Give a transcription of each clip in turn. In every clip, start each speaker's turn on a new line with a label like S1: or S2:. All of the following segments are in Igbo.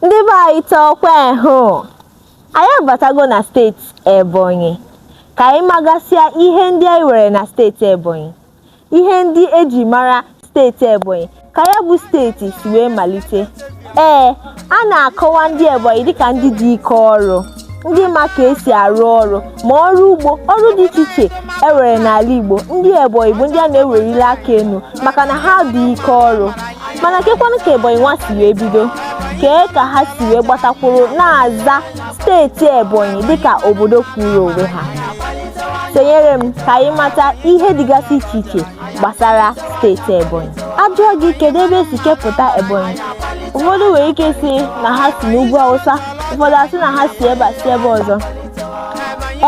S1: Ndị be anyị taa ọkwa ehụ anyị abatago na steeti Ebonyi ka anyị magasịa ihe ndị anyị nwere na steeti Ebonyi ihe ndị eji mara steeti Ebonyi ka ya bụ steeti si wee malite ee a na-akọwa ndị Ebonyi dịka ndị dị ike ọrụ ndị ma ka esi arụ ọrụ ma ọrụ ugbo ọrụ dị iche iche e nwere n'ala Igbo ndị Ebonyi bụ ndị a na-ewelili aka enu maka na ha dị ike ọrụ mana kekwanụ ka Ebonyi nwa si wee bido kee ka ha si wee gbatakwuru na-aza steeti Ebonyi dịka obodo kwụrụ onwe ha sonyere m ka anyị mata ihe dịgasị iche iche gbasara steeti Ebonyi a jụọ gị kedu ebe esi kepụta Ebonyi ụfọdụ nwere ike sị na ha si n'ugwu Awụsa ụfọdụ asị na ha si ebe a si ebe ọzọ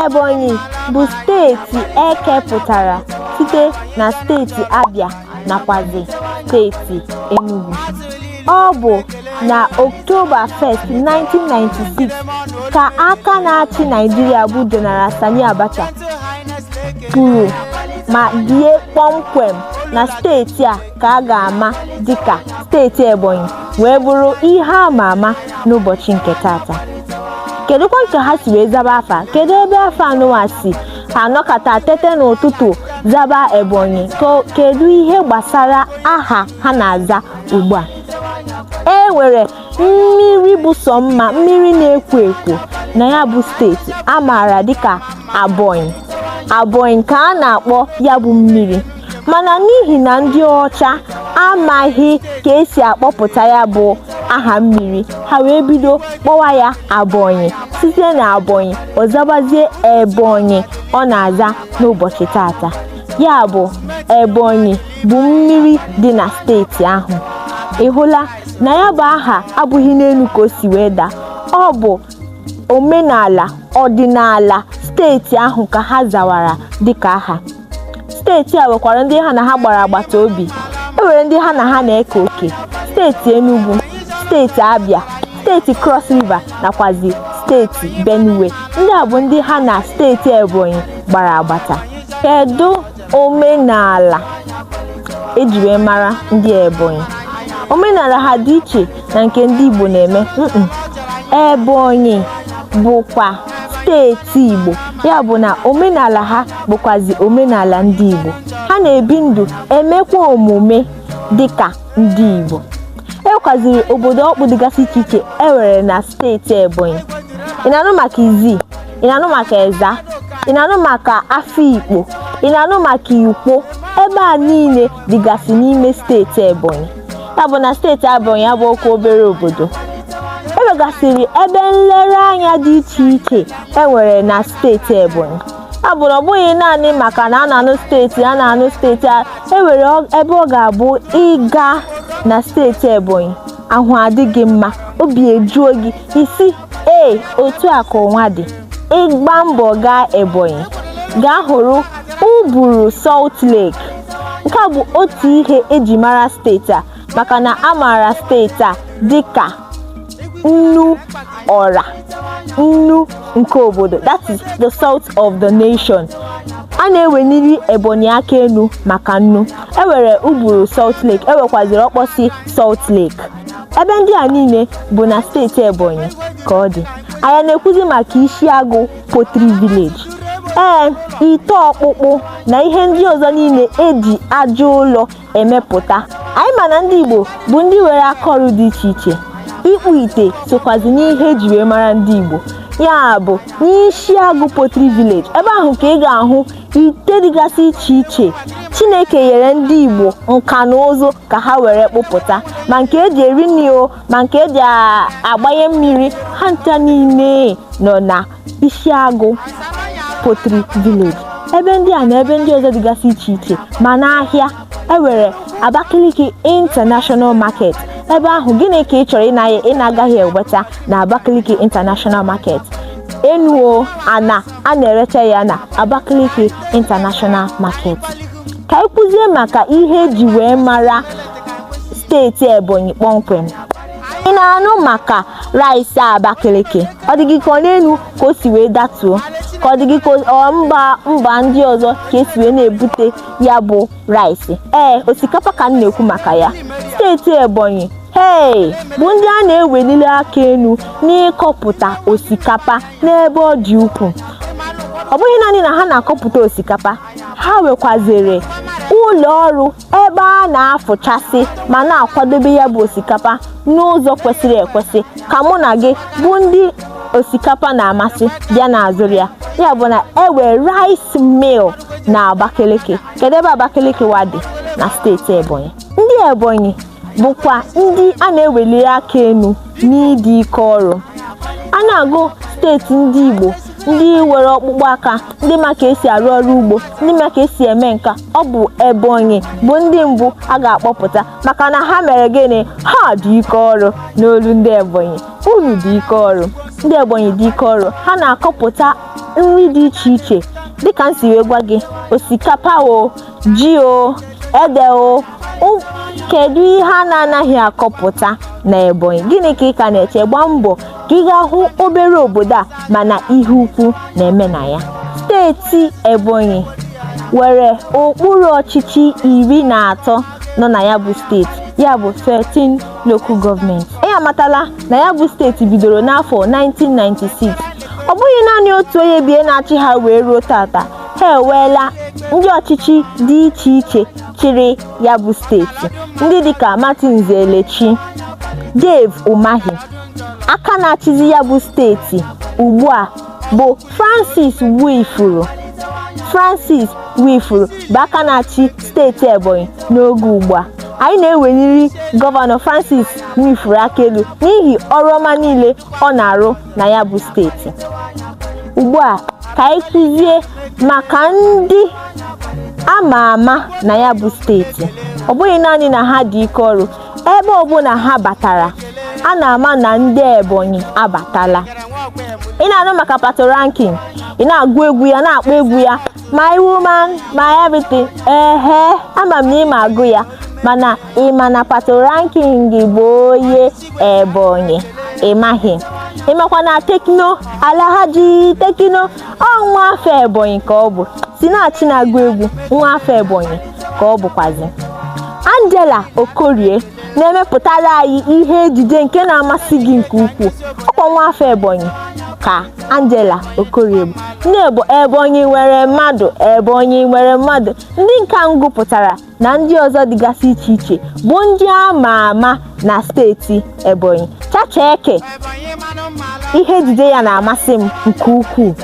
S1: Ebonyi bụ steeti ekepụtara site na steeti Abia nakwazi steeti Enugu ọ bụ na Oktoba 1st 1996 ka aka na-achị Naịjirịa bụ General Sani Abacha kwuru ma dee kpọmkwem na steeti a ka a ga-ama dịka steeti Ebonyi wee bụrụ ihe a ma ama n'ụbọchị nke tata kedụkwa ka ha si wee zaba afa kedu ebe afa anụwa si ha nọkata tete n'ụtụtụ zaba Ebonyi kedu ihe gbasara aha ha na-aza ugbu a e nwere mmiri bụ sọ mma mmiri na-ekwo ekwo na ya bụ steeti a maara dịka Abonyi Abonyi ka a na-akpọ ya bụ mmiri mana n'ihi na ndị ọcha amaghị ka esi akpọpụta ya bụ aha mmiri ha wee bido kpọwa ya Abonyi site na Abonyi ọ zabazie Ebonyi ọ na-aza n'ụbọchị tata ya bụ Ebonyi bụ mmiri dị na steeti ahụ ị hụla na ya bụ aha abụghị n'enu ka o si wee daa ọ bụ omenala ọdịnala steeti ahụ ka ha zawara dịka aha steeti a nwekwara ndị ha na ha gbara agbata obi e nwere ndị ha na ha na-eke oke steeti Enugu steeti Abia steeti Cross River nakwazi steeti Benue ndị a bụ ndị ha na steeti Ebonyi gbara agbata kedu omenala eji wee mara ndị Ebonyi omenala ha dị iche na nke ndị Igbo na-eme Ebonyi bụkwa steeti Igbo ya bụ na omenala ha bụkwazi omenala ndị Igbo ha na-ebi ndụ emekwa omume dịka ndị Igbo e nwekwaziri obodo ọkpụ dịgasị iche iche e nwere na steeti Ebonyi ị na-anụ maka Izzi ị na-anụ maka ezza ị na-anụ maka afikpo ị na-anụ maka ikwo ebe a niile dịgasị n'ime steeti ebonyi ya bụ na steeti ebonyi abụghịkwa obere obodo ewegasịrị ebe nlereanya dị iche iche enwere na steeti ebonyi ya bụ na ọ bụghị naanị maka na a na-anụ steeti a na-anụ steeti a enwere ebe ọ ga-abụ ị gaa na steeti ebonyi ahụ adị gị mma obi ejuo gị ị sị ee otu a ka ụwa dị ị gbaa mbọ gaa ebonyi gaa hụrụ uburu salt lake nke a bụ otu ihe eji mara steeti a maka na a maara steeti a dịka nnu ọra nnu nke obodo that is the salt of the nation a na-eweniri ebonyi aka enu maka nnu ewere uburu salt lake ewekwaziri okposi salt lake ebe ndị a niile bụ na steeti ebonyi ka ọ dị anyị na-ekwuzi maka isiagụ pottery village ee ite ọkpụkpụ na ihe ndị ọzọ niile eji aja ụlọ emepụta anyị ma na ndị igbo bụ ndị nwere aka ọrụ dị iche iche ịkpụ ite sokwazi n'ihe eji wee mara ndị igbo ya bụ n'isiagụ pottery village ebe ahụ ka ị ga-ahụ Ite dịgasị iche iche, Chineke nyere ndị Igbo nka na ụzụ ka ha were kpụpụta ma nke eji eri nri o ma nke eji agbanye mmiri ha ncha niile nọ na Isiagụ Pottery Village ebe ndị a na ebe ndị ọzọ dịgasị iche iche ma n'ahịa ewere Abakaliki International Market ebe ahụ gịnị ka ị chọrọ ị na-agaghị enweta na Abakaliki International Market enu o ana a na-erecha ya na Abakaliki International Market ka anyị kwuzie maka ihe eji wee mara steeti Ebonyi kpọmkwem ị na-anụ maka rice Abakaliki ọ dị gị ka ọ n'enu ka o si wee datuo ka ọ dị gị ka ọ mba mba ndị ọzọ ka esi wee na-ebute ya bụ rice ee osikapa ka m na-ekwu maka ya steeti Ebonyi hei bụ ndị a na-eweniri aka enu n'ịkọpụta osikapa n'ebe ọ dị ukwuu ọ bụghị naanị na ha na-akọpụta osikapa ha nwekwaziri ụlọ ọrụ ebe a na-afụchasị ma na-akwadobe ya bụ osikapa n'ụzọ kwesịrị ekwesị ka mụ na gị bụ ndị osikapa na-amasị bịa na-azụrụ ya ya bụ na ewe rice mill na Abakaliki kedu ebe Abakaliki wa dị na steeti Ebonyi ndị Ebonyi bụkwa ndị a na-eweliri aka elu n'ịdị ike ọrụ a na-agụ steeti ndị Igbo ndị nwere ọkpụkpụ aka ndị ma ka esi arụ ọrụ ugbo ndị ma ka esi eme nka ọ bụ Ebonyi bụ ndị mbụ a ga-akpọpụta maka na ha mere gịnị ha dị ike ọrụ n'olu ndị Ebonyi unu dị ike ọrụ ndị Ebonyi dị ike ọrụ ha na-akọpụta nri dị iche iche dịka m si wee gwa gị osikapa o ji o ede o kedu ihe a na-anaghị akọpụta na Ebonyi gịnị ka ị ka na-eche gbaa mbọ ka ị gaa hụ obere obodo a mana ihe ukwu na-eme na ya steeti Ebonyi nwere okpuru ọchịchị iri na atọ nọ na ya bụ steeti ya bụ 13 local government anyị amatala na ya bụ steeti bidoro n'afọ 1996 ọ bụghị naanị otu onye bie na-achị ha wee ruo tata ha enweela ndị ọchịchị dị iche iche chịrị ya bụ steeti ndị dịka Martins Elechi Dave Umahi aka na-achịzi ya bụ steeti ugbu a bụ Francis Nwifuru Francis Nwifuru bụ aka na-achị steeti Ebonyi n'oge ugbu a anyị na-eweliri gọvanọ Francis Nwifuru aka elu n'ihi ọrụ ọma niile ọ na-arụ na ya bụ steeti ugbu a ka anyị kwuzie maka ndị a ma ama na ya bụ steeti ọ bụghị naanị na ha dị ike ọrụ ebe ọbụla ha batara a na-ama na ndị Ebonyi abatala ị na-anụ maka Patoranking ị na-agụ egwu ya na-akpọ egwu ya my woman my everything ehe ama m na ị ma agụ ya mana ị ma na Patoranking bụ onye Ebonyi ị maghị ị makwa na Tekno Alhaji Tekno ọ nwa afọ Ebonyi ka ọ bụ Sinachi na-agụ egwu nwa afọ Ebonyi ka ọ bụkwazi Angela Okorie na-emepụtara anyị ihe ejije nke na-amasị gị nke ukwuu ọ kwa nwa afọ Ebonyi ka Angela Okorie bụ nne Ebonyi nwere mmadụ Ebonyi nwere mmadụ ndị nke a m gụpụtara na ndị ọzọ dịgasị iche iche bụ ndị a ma ama na steeti Ebonyi Chacha Eke ihe ejije ya na-amasị m nke ukwuu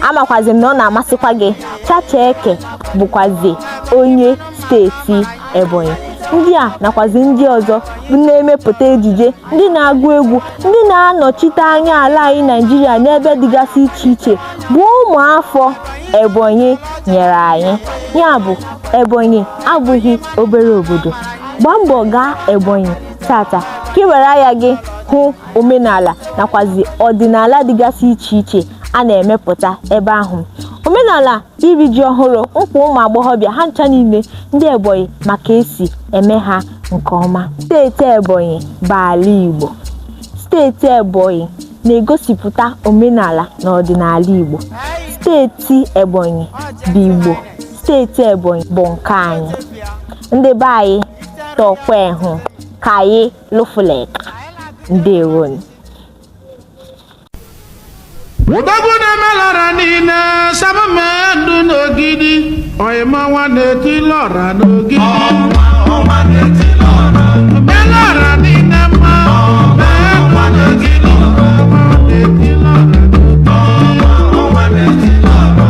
S1: amakwazi m na ọ na-amasịkwa gị Chacha Eke bụkwazi onye steeti Ebonyi ndị a nakwazi ndị ọzọ bụ na-emepụta ejije ndị na-agụ egwu ndị na-anọchite anya ala anyị Naịjirịa n'ebe dịgasị iche iche bụ ụmụafọ Ebonyi nyere anyị ya bụ Ebonyi abụghị obere obodo. Gbaa mbọ gaa Ebonyi tata ka ị were anya gị hụ omenala nakwazi ọdịnala dịgasị iche iche a na-emepụta ebe ahụ. Omenala iri ji ọhụrụ, nkwa ụmụ agbọghọbịa ha ncha niile ndị Ebonyi ma ka e si eme ha nke ọma. Steeti Ebonyi bụ ala Igbo. Steeti Ebonyi na-egosipụta omenala na ọdịnala Igbo. Steeti Ebonyi bụ Igbo. steeti Ebonyi bụ nke anyị ndị be anyị tọkwa ehụ ka anyị lụfuleka
S2: ndewonu odogwu na-emelara niile samamendụ n'ogidi oyima nwa na-eti lọra n'ogidi melara niile mma mendụ n'ogidi nwa na-eti lọra